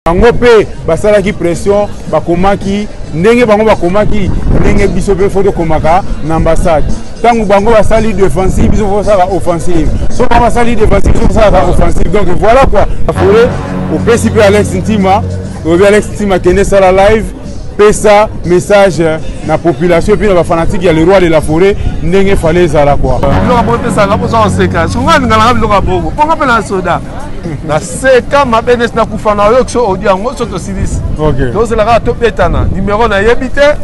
bango mpe basalaki pression bakomaki ndenge bango bakomaki ndenge biso mpe fo tokomaka na ambassade ntango bango basali defensive biso fo tosala offensive so bango basali defensive biso tosalaka offensive donc voilà quoi afole opesi mpe alex ntima oyebi alex ntima kende sala live pesa message na population epuis na bafanatique ya leroy de la forêt ndenge fale ezala kua biloko bopesaka boza koseka songa alingaka biloko ya bongo mponga mpe na soda na seka mabe nesi nakufa na oyoki so audio yango so tosilisi tozela kaka tobetana nimero nayebi te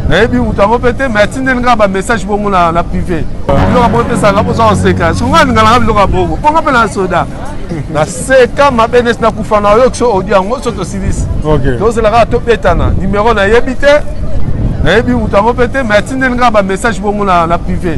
nayebi moto yango mpe te mai atindeli ngai bamessage bongo na privé biloko bongo epesaka mposa koseka songo alinganaka biloko ya bongo bongo mpe na soda na seka mabe nesi nakufa na oyoki so audio yango so tosilisi tozela kaka tobetana nimero nayebi te nayebi moto yango mpe te mai atindeli ngai bamessage bongo na privé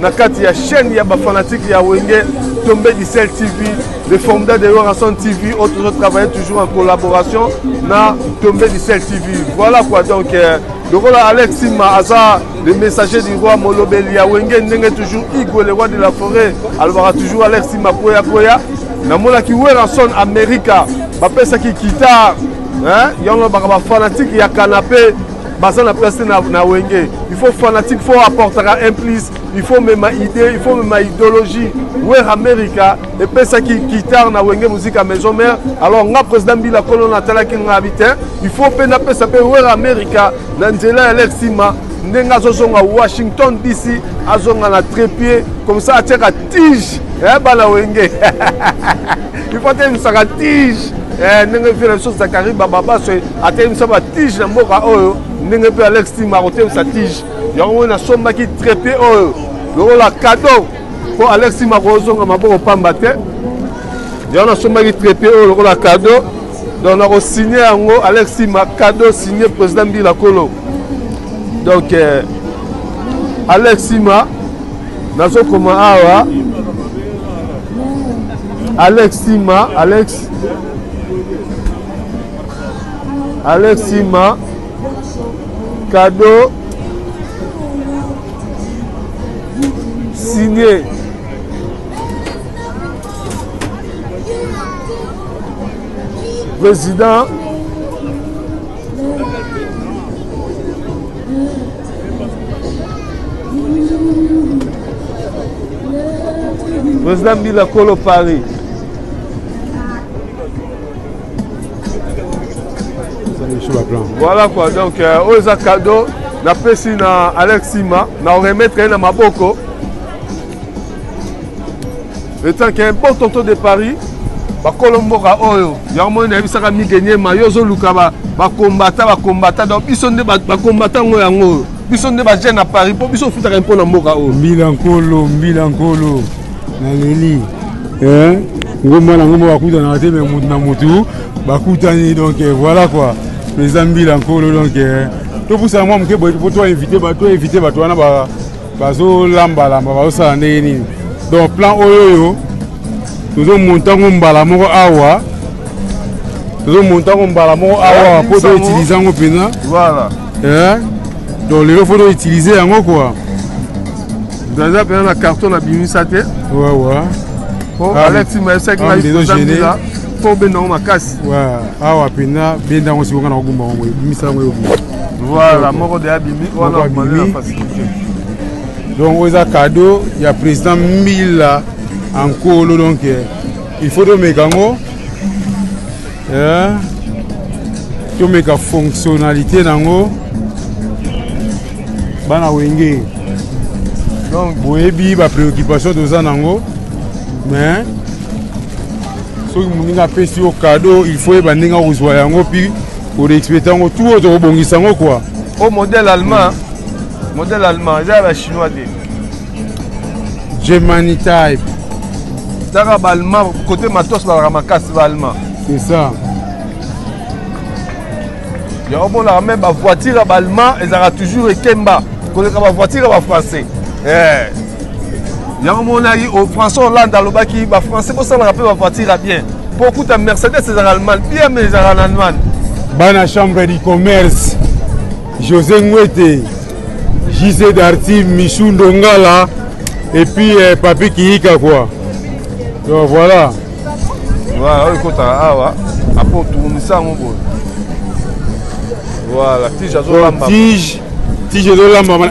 na kati ya chaîne ya bafanatike ya wenge tombe disel tv le formida de yorason tv oyo tozo travaille toujours en collaboration na tombe disel tv voilà quoi donc euh, lokola alex sima aza le messager du roi molobeli ya wenge ndenge toujours igo le roi de la forêt alobaka toujours alex sima koya koya namonaki werason america bapesaki guitare yango baka bafanatike ya kanape baza na place te na, na wenge il faut fanatique faut apportaka un plus il faut mema idée il faut mema idéologie wer america epesaki guitare na wenge musique ya maison mère alors nga président mbila kolo natalaki nga bi te il faut mpe napesa mpe wer america na nzela ya lek nsima ndenge azozonga washington dc azonga na trépied comme ça atiaka tige eh, bana wenge il faut atemisaka tige eh, ndenge vie na biso zakari bababaso atelimisa batige na mboka oyo ndenge mpe alex tima akotemisa tige yango moi nasombaki trepie oyo lokola kado mpo alex tima akozonga maboko pamba te yango nasombaki trepie oyo lokola kado donc nakosigne yango alex tima kado signe président mbila kolo donc eh, alex tima nazokoma awa alex sima alex alex sima kado signe président Président Bila Kolo Paris. Voilà quoi, donc euh, oza cadeau na pesi na Alex Sima na remettre na maboko etant ke bon tonto de paris bakolo mboka oyo yango moi nayebisaka migenyema yo ozoluka bakombata bakombata donc biso nde bakombata yango yango oyo biso nde bajeune na paris mpo biso ofutaka mpo na mboka oyo mbila nkolo mbila nkolo naleli eh? ngomba na ngomba bakutanaka te me motu na motu bakutani donc eh, voilà quoi président mbila nkolo donc eh, topusana mwa moke boye po toinvite bato wana bazolambalamba bazosala ndenge nini donc plan oyo oyo tozomonta yango mbala moko awa tozomonta yango mbala moko awa mpo toutilize yango mpenza eh? donc lelo fo toutilize yango kua eza mpenza na carton nabimisa te wawa po ah, alexi maesaki ah, maizambila mpo obenda yango makasi awa mpenza benda yango sikoka na kogumba yango ebimisa yango eyobi voilà moko de abimi wana abimi donc oyo eza cadeau ya président mbila ankolo donc eh, il faut tomeka yango eh, tomeka fonctionnalité na yango bana wenge donc boyebi bapréoccupation toza na yango mais soki moninga apesi yo cadeau il faut yeba ndenge akozwa yango puis ko réexpéter yango tout oyo tokobongisa yango quoi o modèle allemand modèle allemand eza ya ba chinois te germany type taka ba allemand côté matos balaka makasi ba allemand c'est ça yango monaka meme bavoiture ya ballemand ezalaka toujours ekemba koleka bavoiture ya bafrançais eh. yango monaki oh, françois hollande alobaki bafrançais bosalaka mpe bavoitire ya bien mpo okuta mercedes ezalaka allemagne bien me ezalaka na allemagne bana chambre du commerce josé ngwete jise darti michou ndongala et puis eh, papi kiyika quoi donc voilà voilà oyo ekotaka awa apo otunisa yango boye voilà tige azolamba tige tige ezolamba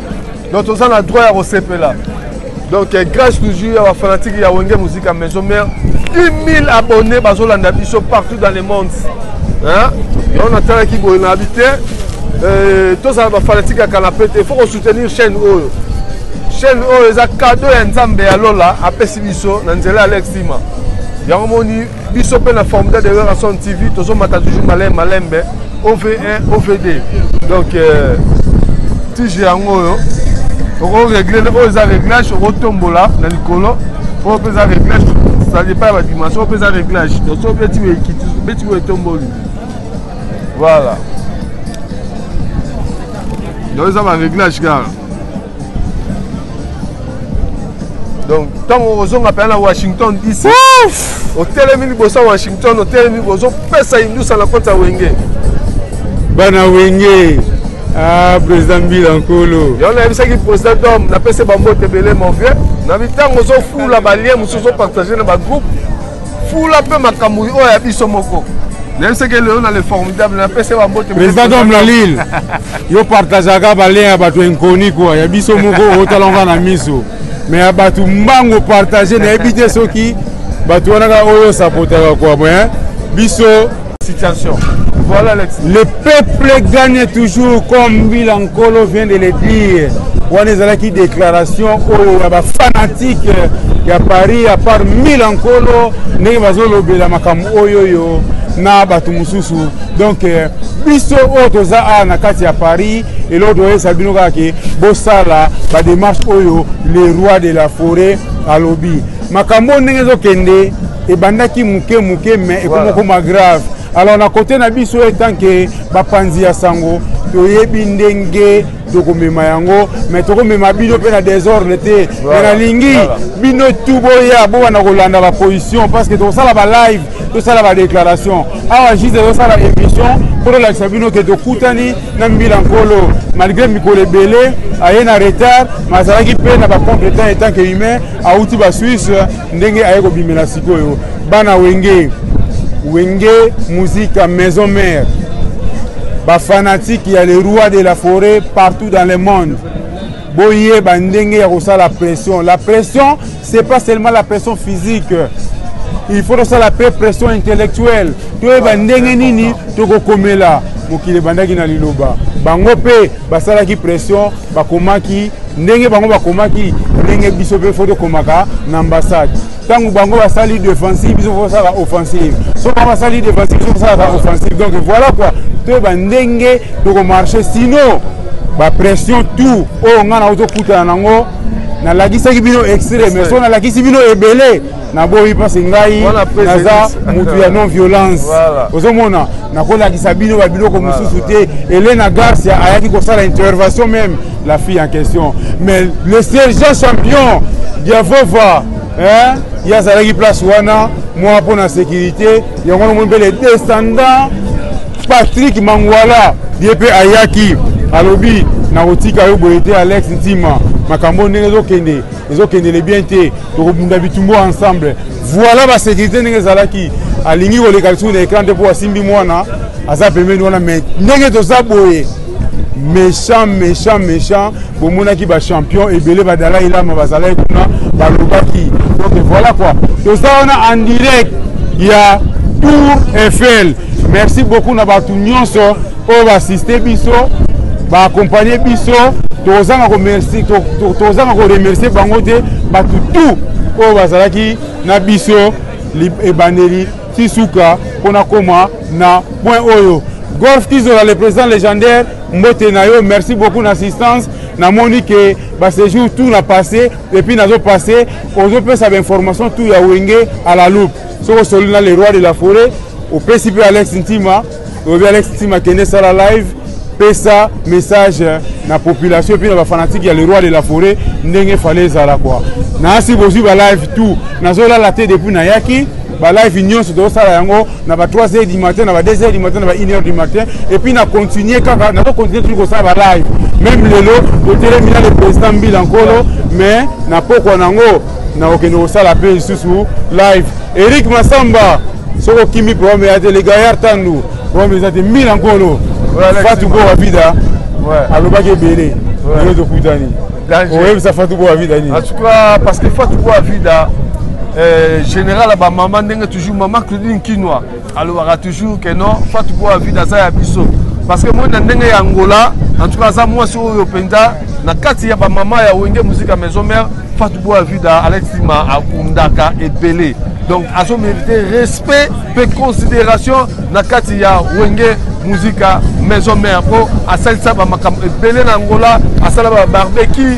donc toza na droit ya kosepela donc eh, grâce toujours ya bafanatike ya wenge musique ya maison mare 1000 abonné bazolanda biso partout dans le monde yango natalaki boye na abi te eh, tozala bafanatike ya kanape te faut kosoutenir chaîne oyo chaîne oyo eza kado ya nzambe ya lola apesi biso na nzela ya lexima yango moni biso mpe na formidable de werrason tv tozomata toujours malin malembe ov1 ovd donc euh, tige yango oyo okoregle oyo eza réglage okotombola na likolo oyo mpe eza réglage sali epai ya badimension oyo mpe eza réglage so beti ekiti beti oyo etomboli voilà donc eza baréglage kaka donc ntango okozonga mpenza na washington dc otelemi liboso ya washington otelemi ozopesa indusa na koti ya wenge bana wenge ah, président mbila nkolo yango nayebisaki président dom napesi bambote ebele mon vieux na mitango ozofula balie mosusu ozopartage na bagroupe fula mpe makambo oyo ya biso moko nayebisaki lelo na le formidable napesa bambote président dom na lille yo partageaka balien ya bato inconi kua ya biso moko otalanga na miso me ya bato mbango partage nayebi te soki bato wana kaka oyo osapotaka kua me biso situation. Voilà Alex. Le peuple gagne toujours comme Mila Nkolo vient de le dire. wana ezalaki déclaration oyo ya bafanatike ya paris ya part mila nkolo ndenge bazolobela makambo oyo oyo na bato mosusu donk eh, biso oyo toza awa na kati ya paris eloko toyesa bino kaka ke bosala bademarche oyo le roi de la forêt alobi makambo oyo ndenge ezokende ebandaki moke moke mais ekomi okoma grave alors na kote na biso etanke bapanzi ya sango toyebi ndenge tokomema yango mais tokomema bino mpe na desordre te mais nalingi bino tu boya bobanda kolanda baposition parce que tokosala balive tosala badéclaration awa juste ezosala émission mpo tolakisa bino ke tokutani na mbila nkolo malgré mikolo ebele aye na retard mais azalaki mpe na bacompétent etant que humain awuti basuisse ndenge aye kobimela sikoyo bana wenge wenge musique maison mère bafanatike ya le roi de la forêt partout dans le monde boyeba ndenge ya kosala pression la pression c'est pas seulement la pression physique il faut tosala mpe pression intellectuelle toyeba ndenge nini tokokomela mokili ebandaki na liloba bango mpe basalaki pression bakomaki ndenge bango bakomaki ndenge biso mpe fo tokomaka na ambassade ntango bango basali defensive biso fo tosala offensive so bango basali defensive biso tosalaka offensive donc voilà quoi toyeba ndenge tokomarche sino bapression tout oyo ngai na ozokutana nango nalakisaki bino extrait mais so nalakisi bino ebele naboyi mpasi ngai naza motu ya non violence ozomona nakolakisa bino babiloko mosusu te elena garcia ayaki kosala intervention meme la fille en question mais le sergent champion diavova hein? ye azalaki place wana mwa mpo na sécurité yango wana omoni mpe le descendant patrik mangwala ye mpe ayaki alobi nakotika yo boye te alex ntima makambo ndenge ezokende ezokendele bien te tokobunda bitumbo ensemble voilà basécurité ndenge ezalaki alingi koleka lisusu na écran te mpo asimbi mwana aza pembeni wana mai ndenge toza boye méchant méchant méchant bomonaki bachampion ebele badalai lama bazalaki kuna balobaki donc voilà quoi toza wana en direct ya tour eiffel merci beaucoup na bato nyonso oyo baasiste biso baakompagne biso tozanga komercie tozanga koremercie bango te bato tout oyo bazalaki na biso ebandeli ti suka mpo nakóma na point oyo golf kizola le président légendaire mbote na yo merci beaucoup na assistance namoni ke baséjour tout na passé epuis nazo passé ozopesa bainformation tout ya wenge à la loupe soki osololi na le roi de la forêt opesi mpe alex ntima obi alex tima kende sala live pesa message na population epuis na bafanatique ya le roi de la forêt ndenge fale ezala kua naasi bozwi balive tout nazolala te depuis nayaki balive nyonso tozosala yango na ba 3 heures du matin na ba 2 heures du matin na ba 1 heure du matin epuis na continue kaka nazocontinue toujours kosala balive meme lelo totelemi na le président mbila nkolo mais na pokwa na yango nakokende kosala mpe lisusu live eric masamba soki okimi problème ya te le gaillard tandu problème eza te mila nkolo fatu boa vida alobaki ebele lelo tokutani oyebisa fatu boa vida nini en tout cas parce que fatu boa vida euh, général ya bamama ndenge toujours mama claudine kinois alobaka toujours que non fatu po avide aza ya biso parce que moi na ndenge ya angola en tout cas aza mwasi oyo mpenza na kati ya bamama ya wenge muzika maison mère fatu po avide alexima akundaka ebele donc azo mérite respect mpe considération na kati ya wenge muzika maison mère mpo asalisa bamakambo ebele na angola asala babarbecue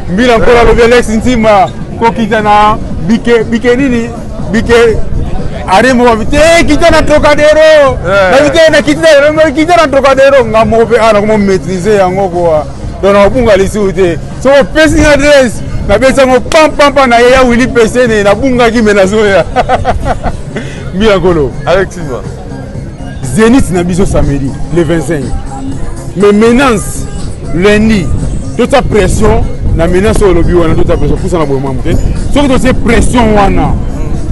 mbila nkolo alobi alex ntima kokita na bike bike nini bike arembo babi te eh, kita na trocadero eh. babi te nakiti na kita na trocadero nga moko mpe awa nakoma maîtrise yango koa donc nakobunga lisusu te soki opesi nga adresse nabesi yango pampampa na ye ya wili pesene nabungaki me nazoya mbila nkolo alexima zenith na biso samedi le 25 mais menace lundi totia pression na menace oyo olobi wana totia pression pusana boye mwa moke soki totie pression wana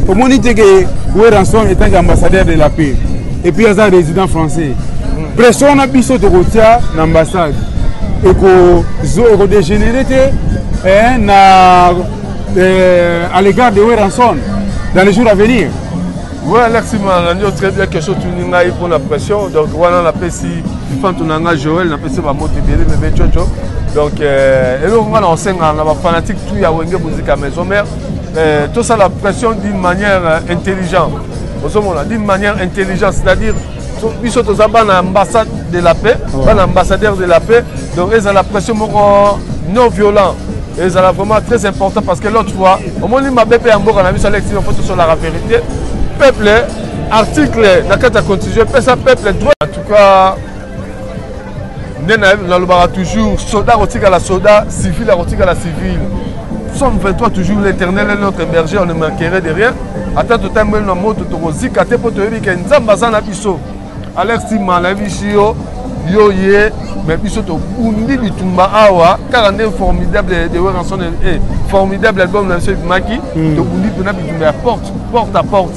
omoni te ke weranson etanke ambassadeur de la paix epuis aza résident français pression wana biso tokotia na ambassade ekodégénéré te eh, na eh, à l'égard de weranson dans les jours à venir Oui, Alexis Mananio, très bien, question tuni ngai pour la pression. Donc, wana na pesi fantu na ngai Joël, na pesi ba moto ebele bebe chocho. Donc, euh, et donc, on enseigne na ba fanatique tout ya wenge musique à maison mère. Euh, tout ça la pression d'une manière euh, intelligente. Osomona, d'une manière intelligente, c'est-à-dire biso toza bana ambassade de la paix bana ambassadeur de la paix donc ezala pression moko non violent ezala vraiment très important parce que l'autre fois omoni mabe mpe ya mboka na biso alexi fo tosolaka vérité peuple article na kati ya constitution epesa peuple droit en tout cas nde nalobaka toujours soda akotikala soda civil akotikala civil somme 23 toujours l'éternel est notre berger on ne manquerait de rien ata totambeli na moto tokozika te mpo toyebi ke nzambe aza na biso alex tima nayebisi yo yo ye me biso tobundi bitumba awa kaka nde formidable de weranson eh, formidable album na biso ebimaki hmm. tobundi mpena bitumba ya porte porte à porte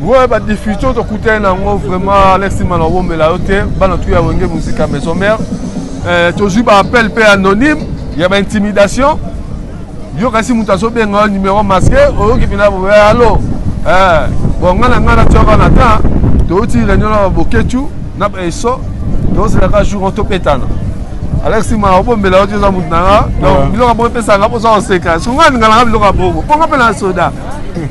Ouais, ba difficultés to kutana nango vraiment Alexis Malawomela yo te bana tu ya wenge musique à maison mère euh, tozwi ba appel pe anonyme ya ba intimidation yo kasi moto azobenga yo numéro masque oyoki mpena boye alo eh, bon ngai na ngai natiaka na temps touti réunion na baboketu na baeso tozelaka jour topetana alex ma obombela yo ti oza moto na nga donc biloko ya bongo epesaka mpo oza koseka songa alinga nanga biloko ya bongo mpo nga mpe na soda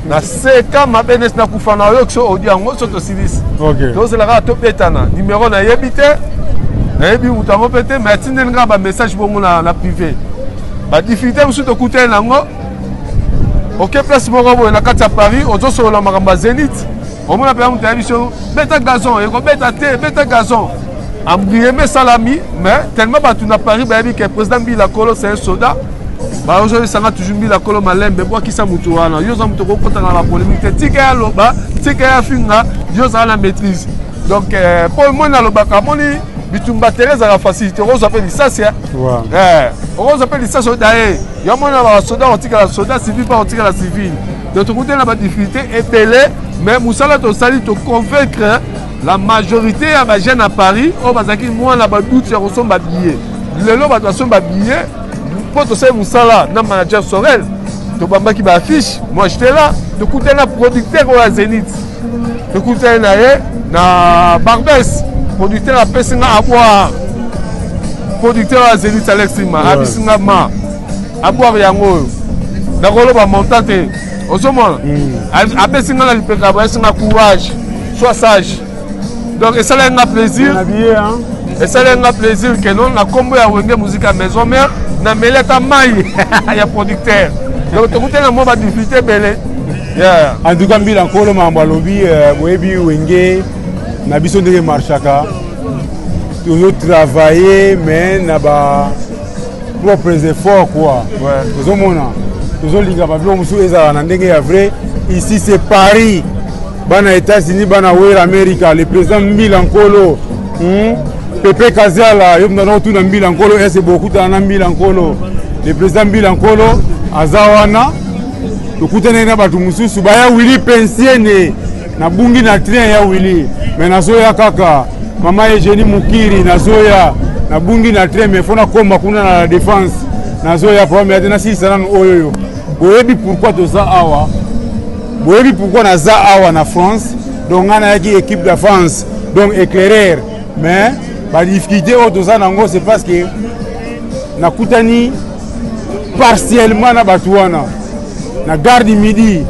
na seka mabe nesi nakufa na oyoki so audio yango so tosilisi tozela kaka tobetana nimero nayebi te nayebi moto yango mpe te mai atindeli kaka bamessage bongo na privé badifficulté mosusu tokutani na yango oke place moko boye na kati ya paris ozosolola makambo ya zenith omona mpenza moto ayebi so beta gazon ekobeta te beta gazon ambrieme esalami mais tellement bato na paris bayebi ke président mbila kolo c'est un soda baozolisa nga toujours mbila kolo malembe bwakisa moto wana yo oza moto okokotana na bapolémique te tika ye aloba tika ye afinga yo ozala na maîtrise donc euh, mpo moi nalobaka amoni bitumba tere ezalaka facilité okozwa mpe lisasi eh, okozwa mpe lisasi oda ye yo mona basoda otikala soda civil mpe otikala civil donc tokutana na badifficulté ebele mais mosala tosali toconvaincre la majorité ya bajeune ya paris oyo bazalaki mwana baduti ya kosomba billet lelo bato basomba billet mpo tosali mosala na manager sorel tobambaki ba affiche moi j'étais là tokutani na producteur oyo ya zenith tokutani na ye na barbes producteur apesi nga aboire producteur ya zenith alex ma ouais. abisi nga ma aboire yango oyo nakoloba montant te ozomona mm. apesi nga na lipeka bayesi nga courage soit sage donc esalaki nga plaisir esalaki nga plaisir ke non na nkombo ya wenge muzika ya maison mère na meli ata mai ya producteur donc tokutani na mwa badifficulté ebele en tout cas mbila nkolo makambo alobi euh, boyebi wenge na biso ndenge marchaka tozo travailler mais na ba propres efforts quoi tozomona tozolingaka biloko mosusu ezala na ndenge ya vrai ici c'est paris bana Etats-Unis bana wera America le président Mbila Nkolo hmm? Pepe Kaziala yo mtana otuna Mbila Nkolo ese bokutana na Mbila Nkolo le président Mbila Nkolo aza wana tokutana na bato mosusu baya Willy Pensiene nabungi na train ya Willy me nazoya kaka mama Eugenie Mukiri nazoya nabungi na train me fo nakoma kuna na la défense nazoya pame ate nasilisa nano oyo oyo boyebi pourquoi toza awa boyebi pourquoi naza awa na france donc ngai nayaki équipe de france donc éclairer mais badifficulté oyo toza nango c'est parce que nakutani partiellement na bato wana na garde midi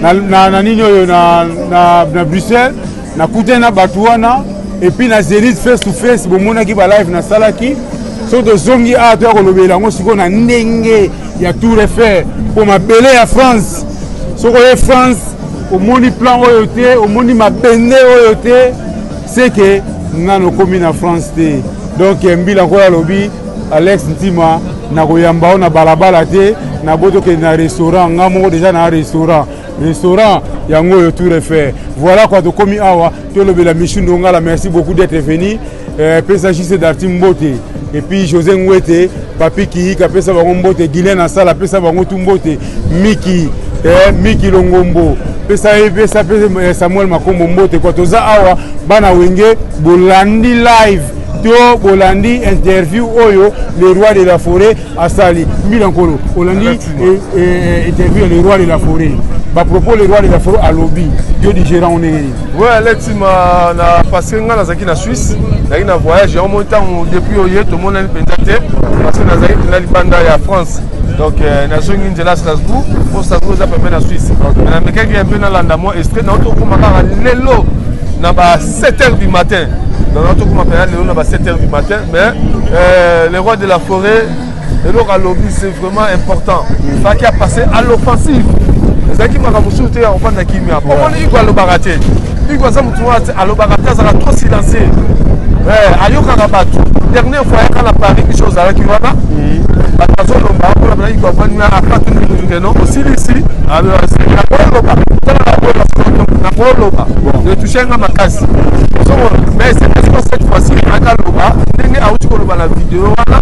na, na, na nini oyo na, na, na bruxelles nakutani na bato wana epuis na zenith face to face bomonaki balive nasalaki soki tozongi awa toya kolobela yango sikoyo na ndenge ya tour efer mpo mabele ya france soki oye france omoni plan oyo te omoni mabende oyo te seke nano okomi na france te donk eh, mbila nkoyo alobi alex ntima nakoyamba yo na balabala te nabo tokende na restaurant nga moko deja na restaurant restaurant yango oyo tour efer voilà kua tokomi awa tolobela michu ndongala merci beaucoup d'être venu euh, pesa jise darti mbote epuis josé ngwete papi kihika apesa bango mbote guilen asala apesa bango tu mbote miki eh, miki longombo pesa ye pesa pe eh, samuel makombo mbote kua toza awa bana wenge bolandi live to bolandi interview oyo le roi de la forêt asali mbila nkolo olandi e, e, e, interview ya le roi de la forêt bapropos le roi de la forêt alobi yo digérant ndenge nini we alexi ma na parce que ngai nazalaki na suisse nazalaki na voyage yango moi ntango depuis oye tomonani mpenza te parce que nazalaki mpenza libanda ya france donc euh, nazongi nzela strasbourg mpo strasbourg eza pembe na suisse mais namekaki mpe nalanda mwa estrait nao tokoma kaka lelo na ba 7 heures du matin donc nao tokoma mpenza lelo na ba 7 heures du matin mais euh, le roi de la forêt eloko alobi c'est vraiment important faki apasse à l'offensive ezalaki makambo mosusu te ya kofanda kimia omoni iko alobaka te iko aza motu wana alobaka te azalaka trop silencieux eh, ayokaka bato dernière fois ayaka na paris biso ozalaki wana bato azolomba akola bana iko avandi na apatu ndikeno osilisi ah, akoloba tala nakoloba nakoloba nga makasi soko mais est-ce que cette fois-ci akaloba ndenge auti koloba na video wana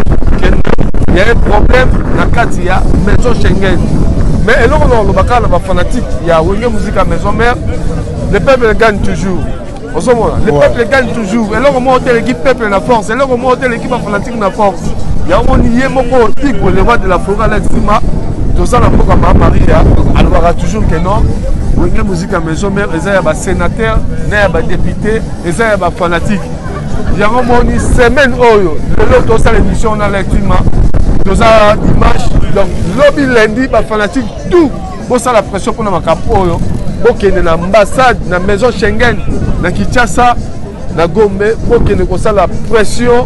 il y a un problème na kati ya maison Schengen mais eloko na koloba kaka na ba fanatique ya wenge musique ya maison mère le peuple gagne toujours ozomona le peuple gagne toujours eloko moko te eleki peuple na force eloko moko te eleki ba fanatique na force yango ni ye moko igwe le roi de la foret na nsima toza na mboka ma maria alobaka toujours que non wenge muzika maison mare eza ya basénateur na ya badepute eza ya bafanatike yango moni semaine oyo lelo tosala émission na lectima toza dimanche donc lobi lundi bafanatike tout bosala pression mpona makambo oyo bokende na ambassade na maison schengen na kinshasa na gombe bokende kosala pression